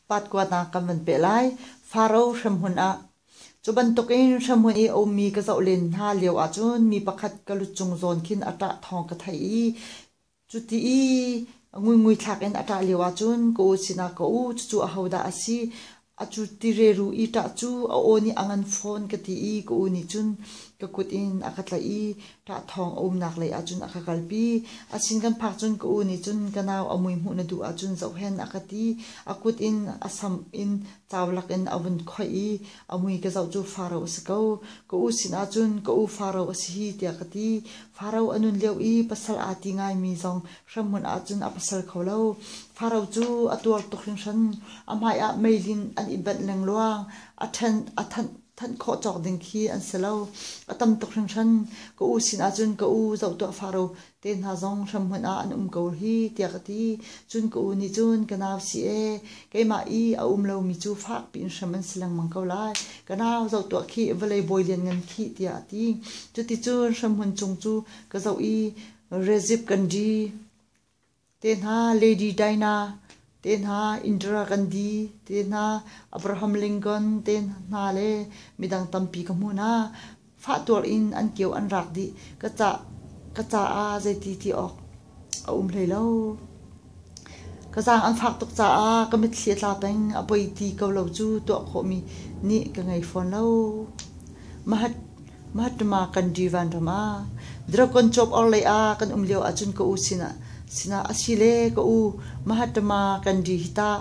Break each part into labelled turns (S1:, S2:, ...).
S1: Patkua hna kan van peh lai. Faro hremhmun ah. Cu bantukin hremhmun i a ummi ka zoh len hna lio ahcun mi pakhat ka lut chung zawn khin a ṭah thawng ka theih i cuti i ngulngui thlak in a ṭah lio ahcun ka u sinah ka u cucu ahodah a si a cu tireru i ṭah cu a aw nih a ngan fawn ka ti i ka u nih cun ka kut in a ka tlaih i Ṭah thawng a umnak lei ahcun a ka kalpi. A sin kan phak cun ka u nih cun ka nau a mui hmuh na duh ahcun zohhen a ka ti. A kut in a sam in caulak in a vun khoih i a mui ka zoh cu Faro a si ko. Ka u sinah cun ka u Faro a si hi tiah ka ti. Faro a nun lio i pasal aa ti ngaimi zong hremhmun ahcun a pasal kho lo. Faro cu a tuar tuk hringhran. A hmaiah meilin an i benh lengluang. A ṭhen a thanh thanh khawh cawk ding khi an si lo. A tam tuk hringhran. Ka u sin ahcun ka u zoh tuah faro te hna zong hramhmun ah an um ko hi tiah ka ti. Cun ka u nih cun ka nau si ee keimah i a um lomi cu fak piin hrem an si lengmang ko lai. Ka nau zoh tuah khi vawlei bawi lianngan khi tiah a ti. Cuticun hramhmun cung cu ka zoh i Rezib Ganji Tehna Lady Dinah, tehna Indira Gandhi, tehna Abraham Lincoln te hna le midang tampi ka hmu hna. Fahtuar in an kio an rak dih. Ka ca, ka caah zeiti ti awk a um hlei lo. Ka zaang an fak tuk caah ka mitthli a tla peng. A poi ti ko lo cu tuah khawhmi nih ka ngei fawn lo. Mahat Mattama kan divan ram ah dragon chawp orhlei ah kan um lio ahcun ka u sinah sinah asile ka u Mahattama kan di hi tah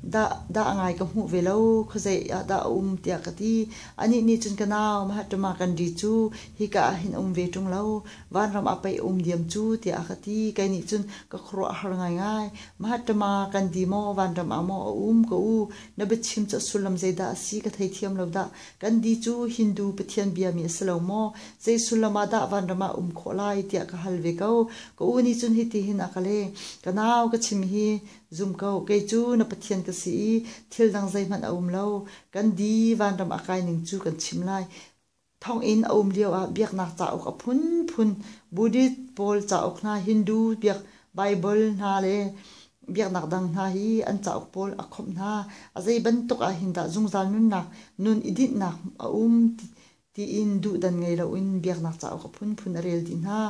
S1: dah dah a ngai ka hmuh ve lo khuazei ah dah a um tiah ka ti anih nih cun ka nau Mahattama kan di cu hika ah hin um ve ṭung lo vanram ah pei um diam cu tiah a ka ti kei nih cun ka khuaruah a har ngaingai Mahattama kan di maw vanram ah maw a um ka u na biachim cu a sullam zeidah a si ka thei thiam lo dah Gandhi cu Hindu pathian biami a si lo maw? Zei sullam ah dah vanram ah um khawh lai tiah ka hal ve ko. Ka u nih cun hitihin a ka leh, Ka nau, ka chim hi zum ko, kei cu na pathian ka si i thil dang zeihmanh a um lo. Gandhi vanram a kai ning cu kan chim lai. Thonginn a um lioah biaknak cauk a phunphun Buddhist pawl cauk hna, Hindu biak Baibal hna le Biaknak dang hna hi an cauk pawl a khawmh hna. A zei bantuk ah hin dah zungzal nunnak, nun i dinhnak a um tiin duhdan ngei loin biaknak cauk a phunphun a rel dih hna.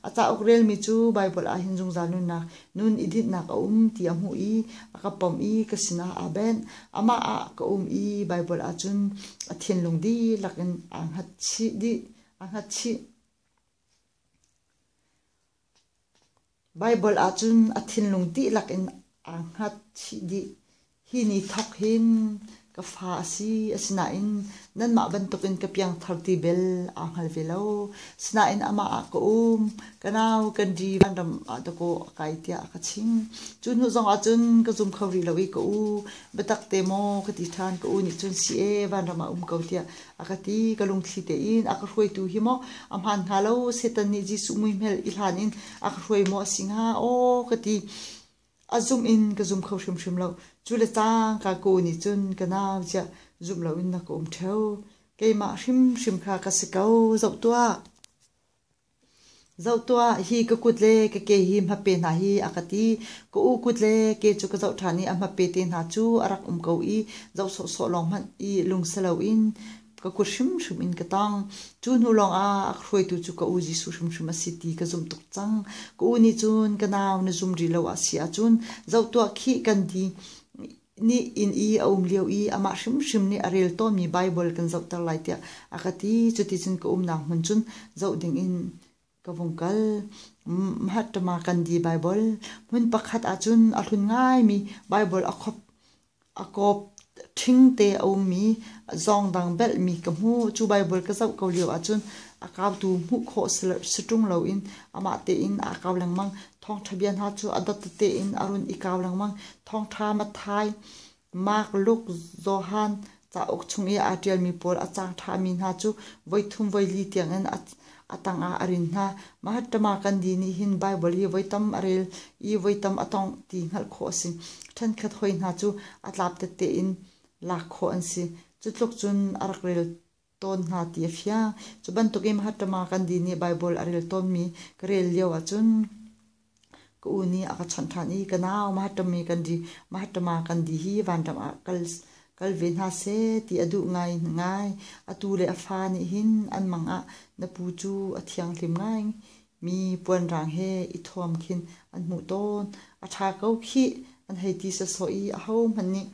S1: A cauk relmi cu Baibal ah hin zungzal nunnak, nun i dinhnak a um ti a hmuh i a ka pawmh i ka sinah aa benh. Amah ah ka um i Baibal ahcun a thinlung dihlak in aa hngatchih dih, aa hngatchih. Baibal ahcun a thinlung dihlak in aa hngatchih dih. Hi ni thawk hin ka fa a si, asinain nanmah bantukin ka piangthar ti bel aa hngal ve lo. Sinain amah ah ka um, ka nau, kan di, vanram ah dakaw a kai tiah a ka ching. Cu hnu zongah cun ka zum kho rih lo i ka u, biatak te maw ka ti ṭhan, ka u nih cun si e, vanram ah um ko tiah a ka ti ka lungthli tein a ka hruaitu hi maw a hmaan hnga lo setan nih Jesuh muihmel i hlan in a ka hruai maw a si hnga aw ka ti a zum in ka zum kho hrimhrim lo cu le cang ka ku nih cun ka nau chiah zum lo in na ka um theo keimah hrimhrim kha ka si ko zoh tuah Zoh tuah, hi ka kut le ka ke hi hmape hna hi a ka ti. Ka u kut le ke cu ka zoh ṭhan i a hmape te hna cu a rak um ko i zoh sawhsawh lawng hmanh i lung si loin ka kut hrimhrim in ka tong. Cu hnu lawngah a hruaitu cu ka u Jesuh hrimhrim a si ti ka zumh tuk cang. Ka u nih cun ka nau na zum rih lo a si ahcun zoh tuah khih kan ti. nih inn i a um lio i amah hrimhrim nih a rel tawnmi Baibal kan zohter lai tiah a ka ti. Cuticun ka umnak hmun cun zoh dingin ka vung kal. Mahattama Gandhi Baibal. Hmun pakhat ahcun a hlun ngaimi Baibal a kop a kop ṭhingte a ummi zawngdang belhmi ka hmu. Cu Baibal ka zoh ko lio ahcun a kautu hmuh khawh si ṭung loin amah tein aa kau lengmang. Thawngṭha bia hna cu a dot tein a run i kau lengmang. Thawngṭha Matthai, Mark, Luke, Johan cauk chung i aa ṭialmi pawl a cang ṭhami hna cu voithum voili tiangin a tangah a rin hna. Mahattama Gandhi nih hin Baibal hi voi tam a rel i voi tam a tawngh ti hngalh khawh a si. Ṭhenkhat hawi hna cu a tlap tette in lak khawh an si. Cu tluk cun a rak rel tawn hna ti a fiang. Cu bantukin Mahattama Gandhi nih Baibal a rel tawnmi ka rel lio ahcun ka u nih a ka chawnh ṭhan i ka nau Mahattami Gandhi, Mahattama Gandhi hi vanram ah kal kal ve hna seh ti a duh ngai ngai. Atu le a fa nih hin an mang ah na pu cu a thianghlim ngai mi puanrang he i thuam khin an hmuh tawn. A ṭha ko khih, an hei ti sawsawh i ahohmanh nih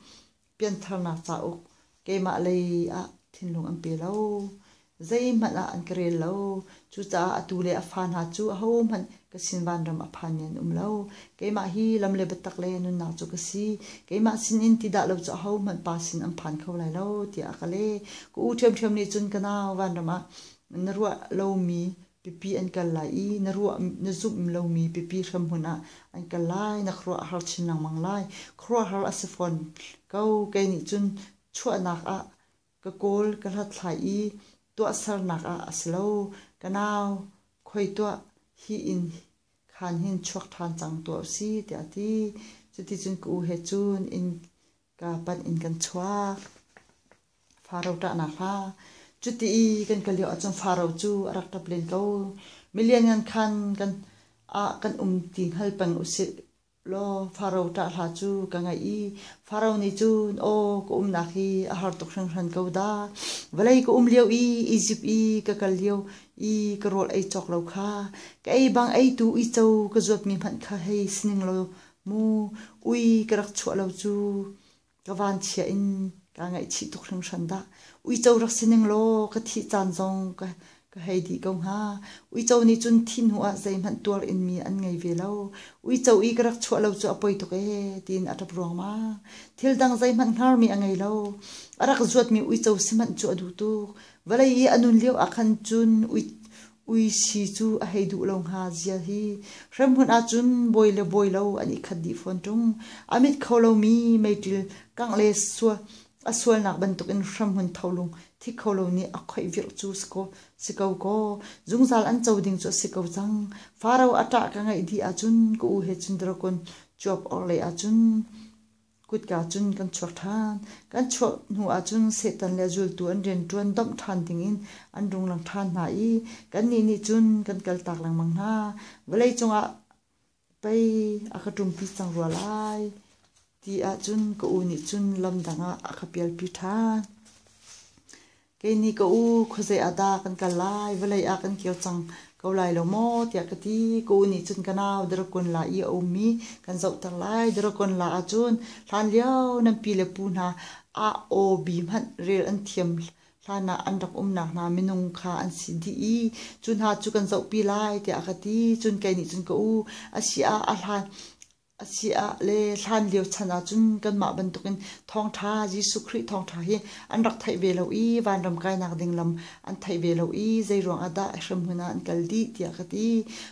S1: piantharnak cauk keimah lei ah thinlung an pe lo. Zeihmanh ah an ka rel lo. Cucaah atu le a fa hna cu ahohmanh ka sin vanram a phanmi an um lo. Keimah hi lam le biatak le nunnak cu ka si. Keimah sin in ti dah lo cu ahohmanh pa sin an phan kho lai lo tiah a ka leh. Ka u ṭhiamṭhiam nih cun ka nau vanram ah na ruah lomi Pipi an kal lai i na ruah na zumh lomi pipi hremhmun ah an kal lai, na khuaruah har chin lengmang lai. Khuaruahhar a si fawn ko. Kei nih cun chuahnak ah ka kawl ka hlathlai i tuahsernak ah a si lo. Ka nau, khoi tuah, hi inn khan hin chuak ṭhan cang tuah u si, tiah a ti. Cuticun ka u he cun inn ka pan in kan chuak faro ṭahnak hla cuti i kan kal lio ahcun faro cu a rak ṭap len ko milian khan kan ah kan um ti hngal peng usih law faro ṭah hla cu ka ngaih i faro nih cun aw ka umnak hi a har tuk hringhran ko da vawlei ka um lio i Izipt i ka kal lio i ka rawl ei cawk lo kha ka ei bang ei tu i co ka zuatmi hmanh kha hei sining law mu ui ka rak chuah lo cu ka van chia in ka ngaihchih tuk hringhran dah uico rak si ning law ka thih caan zong ka ka hei dih ko hnga uico nih cun thi hnu ah zeihmanh tuar in mi an ngei ve lo uico i ka rak chuah lo cu a poi tuk ee tiin a ṭap ruangmang thil dang zeihmanh hngarmi a ngei lo a rak zuatmi uico si manh cu a duh tuk vawlei i a nun lio ah khan cun ui uisi cu a hei duh lo hnga zial hi. Hremhmun ahcun bawi le bawi lo an i khat dih fawn ṭung. A mit kho lomi meiṭil kangh le a sualnak bantukin hremhmun tholung thi kho lo nih a khoih virh cu si ko kaw zungzal an co ding cu a si ko cang. Faro a ṭah ka ngaih dih ahcun ka u he cun drakon cuap orhlei ahcun Kutka cun kan chuak ṭhan. Kan chuah hnu ahcun Satan le zultu an rianṭuan domh ṭhan dingin an runglang ṭhan hna i kannih nih cun kan kaltak lengmang hna. Vawleicung ah pei a ka ṭumpi cang rua lai ti ahcun ka u nih cun lam dang ah a ka pialpi ṭhan. Kei nih ka u khuazei ah dah kan kal lai, vawlei ah kan kir cang ko lai lo maw tiah ka ti. Ka u nih cun ka nau Daragon la i a ummi kan zohter lai. Daragon la ahcun hlanlio nan pi le pu hna ah aw bi hmanh rel an thiam hlan ah an rak umnak hna minung kha an si dih i cu hna cu kan zohpi lai tiah a ka ti. Cun kei nih cun ka u a si ah a hlan A si ah le hlan lio chan ah cun kanmah bantukin thawngṭha Jesuh Khrih thawngṭha hi an rak theih ve lo i vanram kainak ding lam an theih ve lo i zeiruang ah dah hremhmun ah an kal dih tiah ka ti.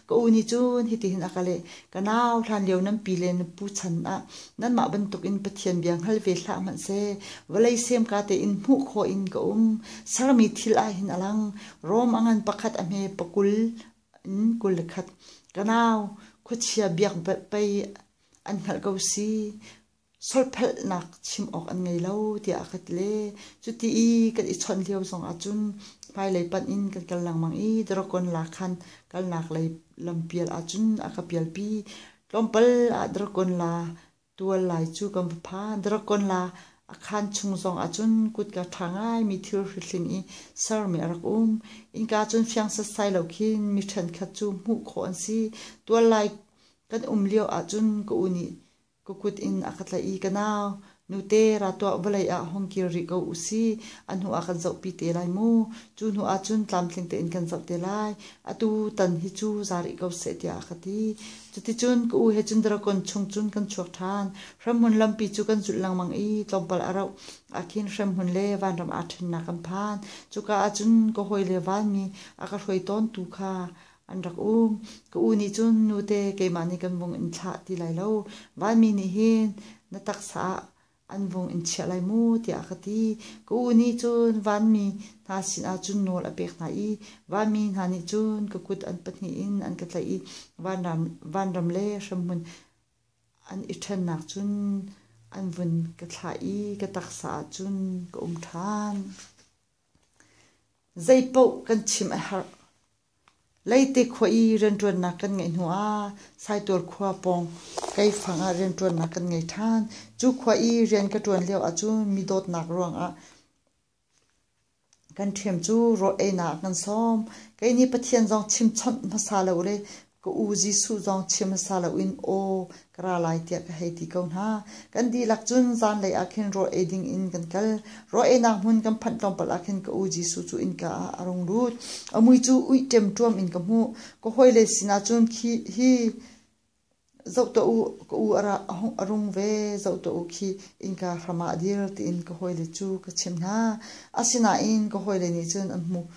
S1: Ka u nih cun hitihin a ka leh, ka nau hlan lio nan pi le na pu chan ah nanmah bantukin Pathian bia hngal ve hlah hmanhseh vawlei sem ka tein hmuh khawh in ka um sermi thil ah hin a lang Rom a ngan pakhat a hme pakul in kul le khat ka nau khuachia biakbalh pei an hngalh ko si solphelhnak chim awk an ngei lo tiah a ka ti le cuti i kan i chawnh lio zong ah cun hmailei panh in kan kal lengmang i dragon la khan kalnak lei lampial ah cun a ka pialpi tlawmpal ah dragon la Tual lai cu kan va pha. Dragon la a khan chung zong ahcun kutka ṭha ngaimi thilhri hling i sermi a rak um. Innka cun fiang setsai lo khin mi ṭhenkhat cu hmuh khawh an si. Tual lai kan um lio ahcun ka u nih ka kut in a ka tlaih i ka nau, nute ra tuah vawlei ah hong kir rih ko u sih. A hnu ah kan zohpi te lai mu. Cu hnu ahcun tlamtling tein kan zoh te lai. Atu tan hi cu za rih ko seh tiah a ka ti. Cuticun ka u he cun Dragon chung cun kan chuak ṭhan. Hremhmun lampi cu kan zulh lengmang i tlawmpal a rauh ahkhin hremhmun le vanram aa ṭhennak an phan. Cuka ah cun ka hawile vanmi a ka hruai tawntu kha an rak um. Ka u nih cun, Nute, keimah nih kan vung in thlah ti lai lo. Vanmi nih hin na taksa ah an vung in chiah lai mu tiah a ka ti. Ka u nih cun vanmi hna sinah cun nawl a pek hna i vanmi hna nih cun ka kut an pahnih in an ka tlaih i vanram, vanram le hremhmun an i ṭhennak cun an vun ka thlah i ka taksa ah cun ka um ṭhan. Zei paoh kan chim a herh. Leite khua i rianṭuannak kan ngeih hnuah Saitual khua pawng Keifang ah rianṭuannak kan ngei ṭhan. Cu khua i rian ka ṭuan lio ahcun mi dawtnak ruangah kan ṭhiam cu rawl einak ah kan sawm. Kei nih Pathian zong chimchawnh hmasa lo le ka u Jesuh zong chim hmasa loin aw Ka ra lai tiah ka hei ti ko hna. Kan dihlak cun zanlei ah khin rawl ei ding in kan kal. Rawl einak hmun kan phanh tlawmpal ah khin ka u Jesuh cu innka ah a rung lut. A mui cu uih ṭemṭuam in ka hmuh. Ka hawile sinah cun khi hi zoh tuah u, ka u a ra a hung a rung ve, zoh tuah u khi innka hram ah dir tiin ka hawile cu ka chimh hna. Asinain ka hawile nih cun an hmuh.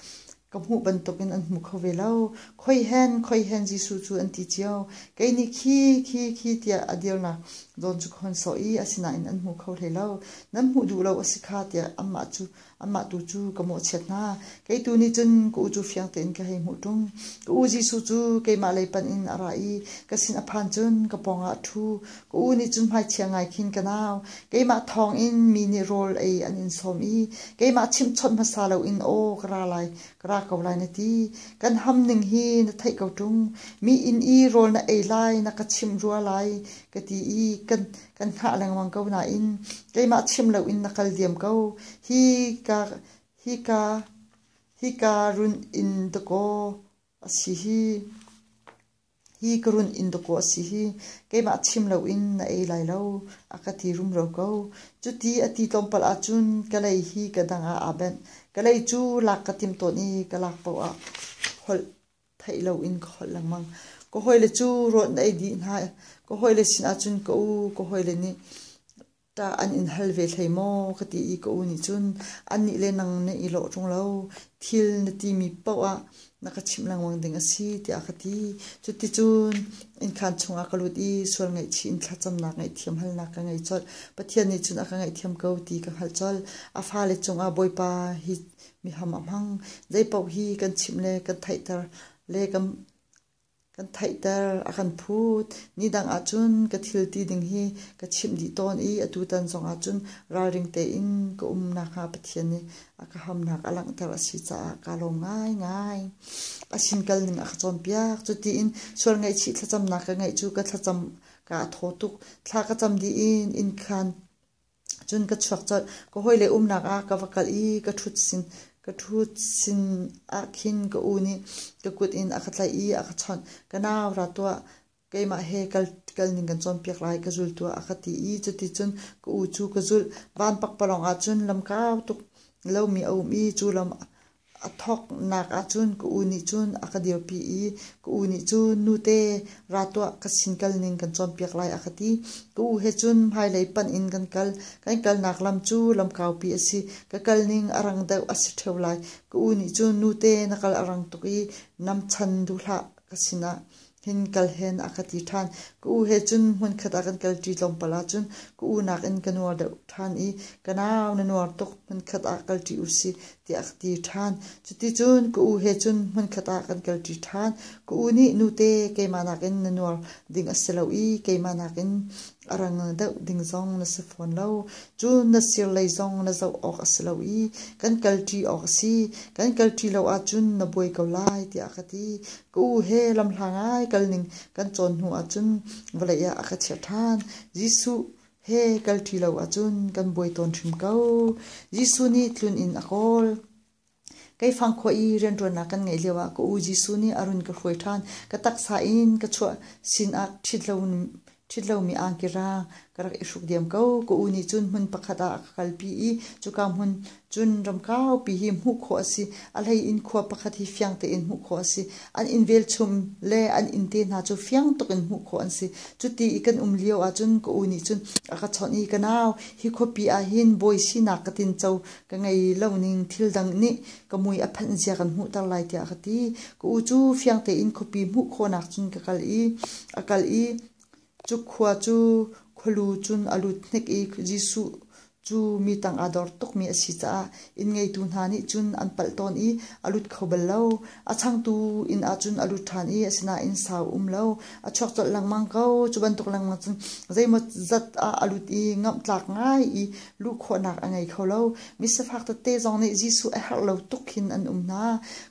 S1: Ka hmuh bantukin an hmu kho ve lo. Khoihen, khoihen Jesuh cu an ti cio. Kei nih khi, khi, khi tiah a dirnak zawn cu ka hun sawh i asinain an hmu kho hlei lo. Nan hmuh duh lo a si kha tiah amah cu, amah tu cu ka mawhchiat hna. Kei tu nih cun ka u cu fiang tein ka hei hmuh ṭung. Ka u Jesuh cu keimah lei panh in a ra i ka sin a phan cun ka pawngah a ṭhu. Ka u nih cu hmaichia ngai khin ka nau, keimah thawng in mi nih rawl ei an in sawm i keimah chimhchawnh hmasa loin aw ka ra lai, ka ra ko lai na ti. Kan ham ning hi na theih ko ṭung, mi inn i rawl na ei lai na ka chimh rua lai ka ti i kan kan hngah lengmang ko nain keimah chim loin na kal diam ko. Hi ka hi ka hi ka run in dakaw a si hi. Hi ka run in dawkaw a si hi. Keimah chim lo in na ei lai lo. A ka ti rumro ko. Cuti a ti tlawmpal ahcun ka lei hi ka dang ah aa benh. Ka lei cu lak ka tim tawn i ka lak paoh ah holh theih lo in ka holh lengmang. Ka hawile cu rawt na ei dih hna. Ka hawile sinah cun ka u ka hawile nih Tah an in hal ve hlei maw ka ti i ka u nih cun annih le nang na i lawh ṭung lo. Thil na timi paoh ah na ka chimh lengmang ding a si tiah a ka ti. Cuticun innkhan chungah ka lut i sual ngaihchih in thlacamnak ngaihthiam halnak ka ngei colh. Pathian nih cun a ka ngaihthiam ko ti ka hngalh colh. A fale cungah Bawipa hi miham a hmang. Zei paoh hi kan chimh le kan theihter le kan Kan theihter a kan phut. Nidang ahcun ka thil ti ding hi ka chimh dih tawn i atutan zongah cun ralring tein ka um nakhnga Pathian nih a ka hamnak a langhter a si caah kaa lawm ngaingai. A sin kal ning a ka cawnpiak. Cutiin sual ngaihchih thlacamnak ka ngeih cu ka thlacam kaa thaw tuk. Thla ka cam dih i inn khan Cun ka chuak colh. Ka hawile umnak ah ka va kal i ka ṭhut sin, ka ṭhut sin ah khin ka u nih ka kut in a ka tlaih i a ka chawnh. Ka nau ra tuah, keimah he kal, kal ning kan cawnpiak lai ka zul tuah a ka ti i cuticun ka u cu ka zulh. Van pakpalawng ahcun lam kau tuk lomi a um i cu lam A thawknak ahcun ka u nih cun a ka dirpi i ka u nih cun nute ra tuah ka sin kal ning kan cawnpiak lai a ka ti. Ka u he cun hmailei panh in kan kal. Kan kalnak lam cu lam kaupi a si. Ka kal ning a rang deuh a si ṭheo lai. Ka u nih cun nute na kal a rang tuk i nam chan duh hlah ka sinah hin kal hen a ka ti ṭhan. Ka u he cun hmunkhat a kan kalṭi tlawmpal ahcun ka u nakin ka nuar deuh ṭhan i ka nau na nuar tuk hmunkhat ah kalṭi u si tiah a ka ti ṭhan. Cuticun ka u he cun hmunkhat ah kan kalṭi ṭhan. Ka u nih nute keimah nakin na nuar ding a si lo i keimah nakin a rang deuh ding zong na si fawn lo. Cun na sir lei zong na zoh awk a si lo i kan kalṭi awk a si. Kan kalṭi lo ahcun na buai ko lai tiah a ka ti. Ka u he lamhlang ai kalning kan cawn hnu ahcun vawlei ah a ka chiah ṭhan. Jesuh he kal ṭi lo ahcun kan buai tawn hrim ko. Jesuh nih tlun in a kawl. Keifang khua i rianṭuannak kan ngeih lioah ka u Jesuh nih a run ka hruai ṭhan. Ka taksa in ka chuah sinah ṭhit loin Ṭhit lomi angkira ka rak i hruk diam ko. Ka u nih cun hmun pakhat ah a ka kalpi i cuka hmun cun ram kaupi hi hmuh khawh a si. A hlei in khua pakhat hi fiang tein hmuh khawh a si. An inn velchum le an inn te hna cu fiang tuk in hmuh khawh an si. Cuti i kan um lio ahcun ka u nih cun a ka chawnh i ka nau hi khuapi ah hin bawi sinak ka tinco ka ngei lo ning thil dang nih ka mui a phanh zia kan hmuhter lai tiah ka ti. Ka u cu fiang tein khuapi hmuh khawhnak cun ka kal i a kal i cu khua cu khualu cun a lut hnik i Jesuh cu mi tang aa dor tukmi a si caah inn ngeitu hna nih cun an palh tawn i a lut kho bal lo. A changtu inn ah cun a lut ṭhan i asinain sau a um lo. A chuak colh lengmang ko. Cu bantuk lengmang cun zeimawzat ah a lut i ngamh tlak ngai i luh khawhnak a ngei kho lo. Misifak tete zong nih Jesuh a herh lo tuk hin an um hna.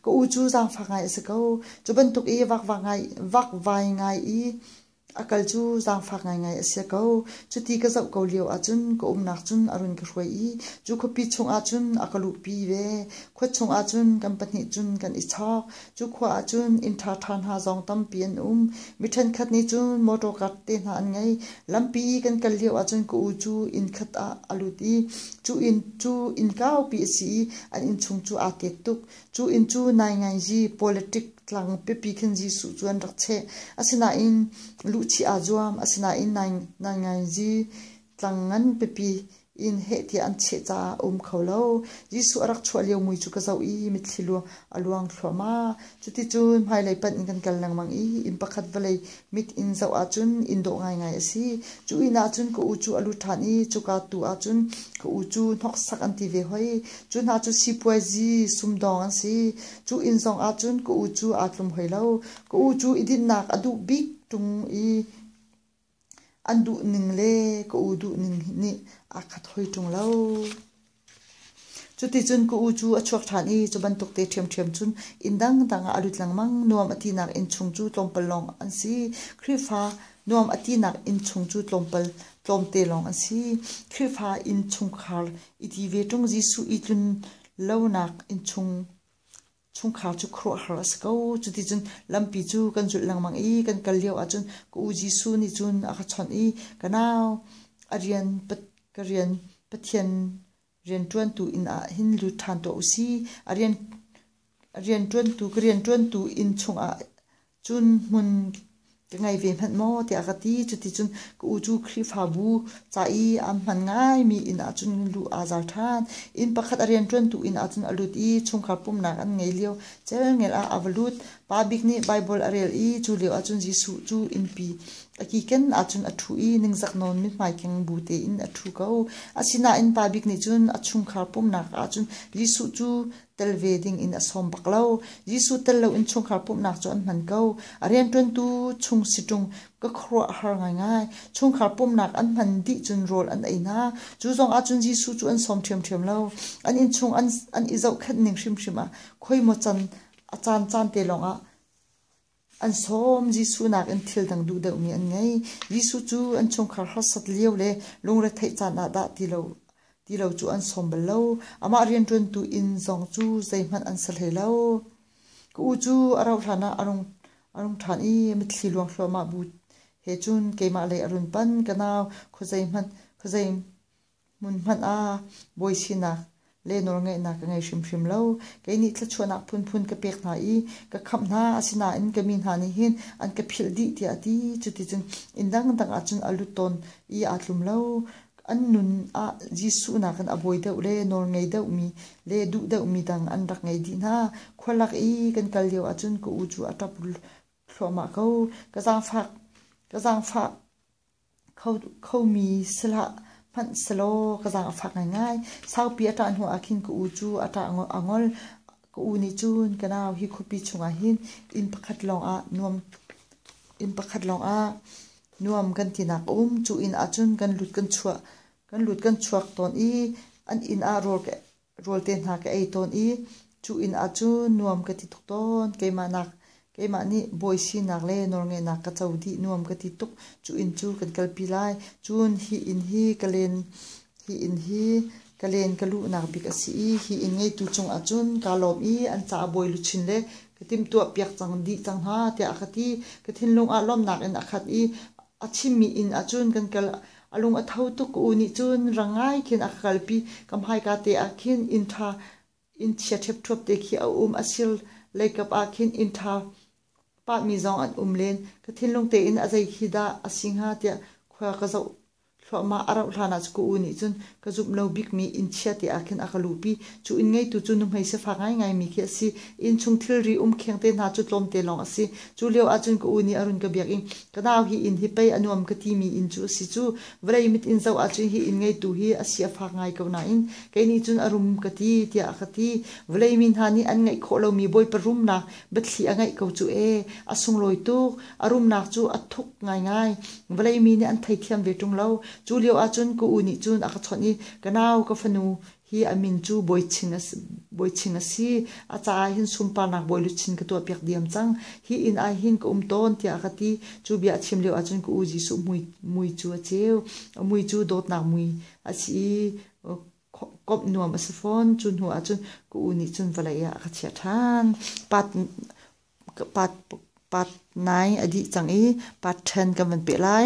S1: Ka u cu zaangfak ngai a si ko. Cu bantuk i vakvai ngai, vakvai ngai i a kal cu zaangfak ngaingai a si ko. Cuti ka zoh ko lio ahcun ka umnak cun a run ka hruai i cu khuapi chung ahcun a ka luhpi ve. Khua chung ahcun kan pahnih cun kan i chawk. Cu khua ahcun inn ṭha ṭha hna zong tampi an um. Mi ṭhenkhat nih cun motor car te hna an ngei. Lampi i kan kal lio ahcun ka u cu inn khat ah a lut i cu inn cu inn kaupi a si i an inn chung cu aa kek tuk. Cu inn cu Naingaizi Pawleṭik tlang pipi khin Jesuh cu an rak cheh. Asinain luhchih aa zuam. Asinain Naingaizi tlang ngan pipi in heh tiah an cheh caah a um kho lo. Jesuh a rak chuah lio mui cu ka zoh i mitthli a luang thluahmah. Cuticun hmailei panh in kan kal lengmang i inn pakhat vawlei mit in zoh ahcun inn dawh ngaingai a si. Cu inn ahcun ka u cu a lut ṭhan i cuka tu ahcun ka u cu hnoksak an ti ve hoi. Cu hna cu sipuaizi sumdawng an si. Cu inn zong ahcun ka u cu aa tlum hoi lo. Ka u cu i dinhnak a duh bik ṭung i An duh ning le ka u duh ning nih a ka thawi ṭung lo. Cuticun ka u cu a chuak ṭhan i cu bantuk te ṭhiamṭhiam cun inn dangdang ah a lut lengmang. Nuam a tinak inn chung cu tlawmpal lawng an si. Khrihfa nuam a tinak inn chung cu tlawmpal tlawmte lawng an si. Khrihfa inn chungkhar i ti ve ṭung, Jesuh i tlun lonak inn chung chungkhar cu khuaruahhar a si ko. Cuticun lampi cu kan zulh lengmang i kan kal lio ahcun ka u Jesuh nih cun a ka chawnh i ka nau a rian ka rian Pathian rianṭuantu inn ah hin lut ṭhan tuah u si. A rian a rianṭuantu ka rianṭuantu inn chungah cun hmun ka ngei ve hmanh maw tiah ka ti cuticun ka u cu Khrihfabu ca i am hman ngaimi inn ah cun lu aa zar ṭhan inn pakhat a rianṭuantu inn ah cun a lut i chungkhar pumhnak an ngei lio celngel ah a va lut pa bik nih Baibal a rel i cu lio ah cun Jesuh cu innpi a kiken ahcun a ṭhu i ningzak nawn mithmai keng bu tein a ṭhu ko asinain pa bik nih cun a chungkhar pumhnak ahcun Jesuh cu tel ve ding in a sawm bak lo. Jesuh tel lo in chungkhar pumhnak cu an hman ko. A rianṭuantu chung si ṭung ka khuaruah har ngaingai. Chungkhar pumhnak an hman dih cun rawl an ei hna. Cu zong ahcun Jesuh cu an sawm ṭhiamṭhiam lo. An innchung an an i zohkhenh ning hrimhrim ah khoi maw can a caan caan te lawng ah An sawm Jesuh nakin thil dang duh deuhmi an ngei. Jesuh cu an chungkhar harsat lio le lungretheih caan ah dah ti lo, ti lo cu an sawm bal lo. Amah rianṭuantu inn zong cu zeihmanh an sa hlei lo. Ka u cu a rauh hlanah a rung, a rung ṭhan i mitthli luang hluahmah bu he cun keimah lei a run pan. Ka nau, khuazei hmanh, khuazei Hmun hmanh ah bawi sinak le nawlngeihnak ka ngei hrimhrim lo. Kei nih thluachuahnak phunphun ka pek hna i ka khamh hna. Asinain ka mi hna nih hin an ka philh dih tiah a ti. Cuticun inn dangdang ah cun a lut tawn i aa tlum lo. An nun ah Jesuh nakin a bawi deuh le nawlngei deuhmi le duh deuhmi dang an rak ngei dih hna. Khua lak i kan kal lio ahcun ka u cu a ṭap thluahmah ko. Ka zaangfah, ka zaangfah Khomi si hlah, hmanh selaw ka zaangfak ngaingai. Saupi a ṭah hnuah khin ka u cu a ṭah a ngol. Ka u nih cun ka nau hi khuapi chungah hin inn pakhat lawngah nuam, inn pakhat lawngah nuam kan tinak a um. Cu inn ahcun kan lut kan chuak, kan lut kan chuak tawn i an inn ah rawl ka Rawlte hna ka ei tawn i cu inn ah cu nuam ka ti tuk tawn. Keimah nak, keimah nih bawi sinak le nawlngeihnak ka co dih nuam ka ti tuk. Cu inn cu kan kalpi lai. Cun hi inn hi ka len, hi inn hi ka len ka luhnak bik a si i hi inn ngeitu cungah cun kaa lawm i an caah bawi luchin le ka timhtuah piak cang dih cang hna tiah a ka ti. Ka thinlung ah lawmhnak in a khat i A chimmi inn ah cun kan kal. A lung a tho tuk. U nih cun rangai khin a ka kalpi. Kam haika te ah khin inn ṭha, innchia ṭhepṭhuap te khi a um. A sir leikap ah khin inn ṭha pahmi zong an um len. Ka thinlung tein a zei khi dah a si hnga tiah khua ka zoh Thluahmah a rauh hlan ah Saku U nih cun ka zumh lo bikmi inn chia te ah khin a ka luhpi. Cu inn ngeitu cu nuhmei sifak ngaingaimi khi a si. Innchung thilri um kheng te hna cu tlawmte lawng a si. Cu lio ahcun ka u nih a run ka biak i, Ka nau hi inn hi pei a nuam ka timi inn cu a si cu. Vawlei mit in zoh ahcun hi inn ngeitu hi a si a fak ngai ko nain kei nih cun a rum ka ti tiah a ka ti. Vawlei mi hna nih an ngeih khawh lomi Bawipa rumnak biathli a ngeih ko cu e. A sunglawi tuk. A rumnak cu a thuk ngaingai. Vawlei mi nih an theithiam ve ṭung lo. Cu lio ahcun ka u nih cun a ka chawnh i, Ka nau, ka fanu hi a min cu Bawi Chin a si, Bawi Chin a si. A ca ah hin sunparnak bawiluchin ka tuahpiak diam cang. Hi inn ah hin ka um tawn, tiah a ka ti. Cu bia a chim lio ahcun ka u Jesuh mui, mui cu a ceu. A mui cu dawtnak mui a si i, komh nuam a si fawn. Cu hnu ahcun ka u nih cun vawlei ah a ka chiah ṭhan. Part, part, part nai a dih cang i part ṭhen kan van peh lai.